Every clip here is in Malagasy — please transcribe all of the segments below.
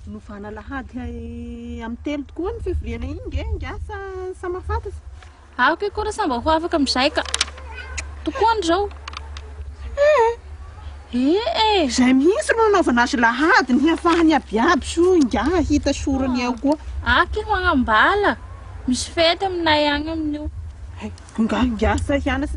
Novana alahady amin'ny telo tokoa ny fivoriana iny nge ingahy sa mahafantatra? Aoka ikoa ra sa mba ho afaka amin'izay ka. Tokoany izao. Ee e! Izay mihitsy no anaovana azy lahady ny hiafahany abiaby so ingahy hahita sorony eo koa. Aoka io manambala. Misy fety aminay agny amin'io. Ingahy ingahy fa hianatra.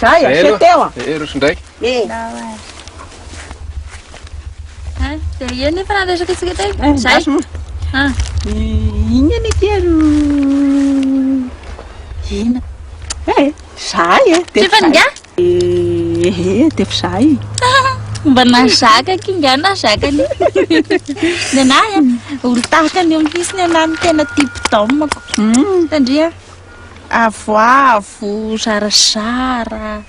Zay, aseho teo an! Ee, roso indray! Ee! Dia eny efa nandraisako antsika teo e! Zay! Inona anie ity ry Ina? Ee, zahay e! Tsy efa ningahy? Ee, dia efa zahay e! Mba nahazaka kingahy nahazaka anie! Nenahy an! Olon-tahaka an'io mihitsy nenahy no tena type d'homme-ko! Tandria! Avoavo, zarazara.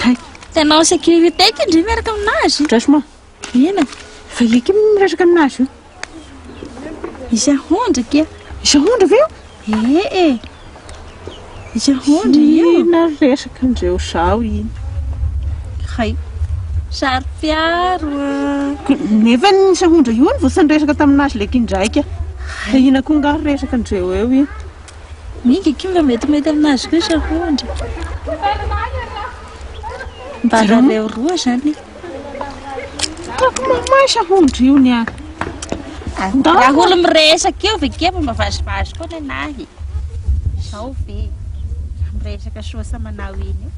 Hay. Tena en sécurité ity ndry miaraka aminazy. Franchement. Ina. Fa io kim miresaka aminazy io. Izy ahondra kia. Izy ahondra ve io? Eh eh. Izy ahondra io. Ina resaka andreo zao iny. Hay. Saro-piaro. Nefa ny sahondra io no voasan'ny resaka taminazy leky indraika. Hay. Ina koa ngaho resaka andreo eo iny. Ny giakomy metimety aminazy koa sahondry. Mba aleo roa zany. Hitako mamahy sahondry io ny ahy. Raha olo miresaka io ve kely mba vazivazy koa ny anahy. Zao ve? Miresaka soa sa manao iny io.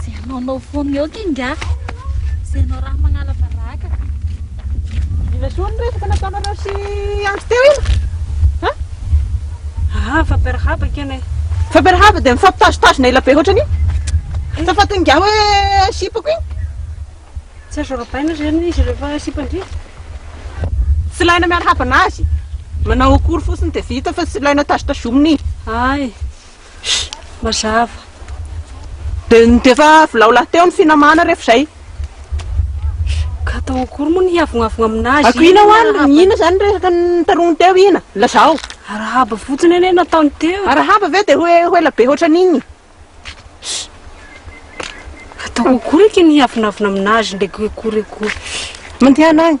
Ze hanaonao foana eo kinga. Ze hanao raha magnala baraka. Mila soa ny resaka nataonareo sy andro teo iny. Ha? Ah, fampirahaba kena e. Fampirahaba dia mifampitazotazona ela be hoatrany. Sa fatin'ny gaho hoe sipako iny? Tsy azo arabaina izany izy rehefa sipan-drivotra. Tsy ilaina miarahaba anazy. Manao akory fotsiny dia vita fa tsy ilaina tazotazomina iny. Ay. Mazava. Dia ny dia efa vilao lahy teo ny finamana rehefa izay. Ka atao akory moa ny hiavonavogna amin'azy. Ako ina hoan, ina izany resaka nitaroany teo ina? Lazao. Arahaba fotsiny anie nataony teo. Arahaba ve dia ho ho ela be hoatran'iny? Ataoko akory eky ny hiavonavona amin'azy ndraiky akory akory. Mandehana agny.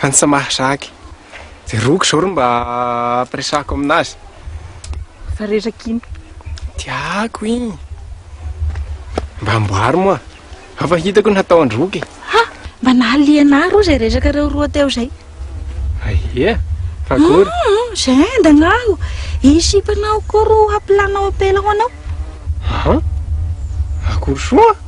Fansa Mahazaka e! Jeroko izao ry mba ampiresahako aminazy. Efa resaka iny. Tiako iny. Mba amboary moa. Hafa hitako ny hataon-dry Roky. Ha! Mba nahaliana ahy roa izay resaka reo roa teo izay. Aia? Fa akory? Ah, ah, izay endana aho. I sipanao koa roa hampilanao ampela ho anao. Aha. Akory soa?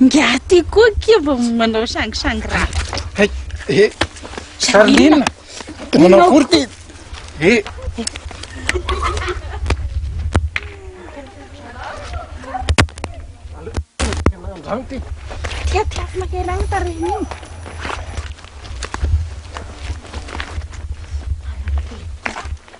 Ingahy ty koa kia vao manao sangisangy ra. Hay, eh, Charline, manao akory ty. Eh. Andrano ty. Tia ty afo maherana tarehiny iny.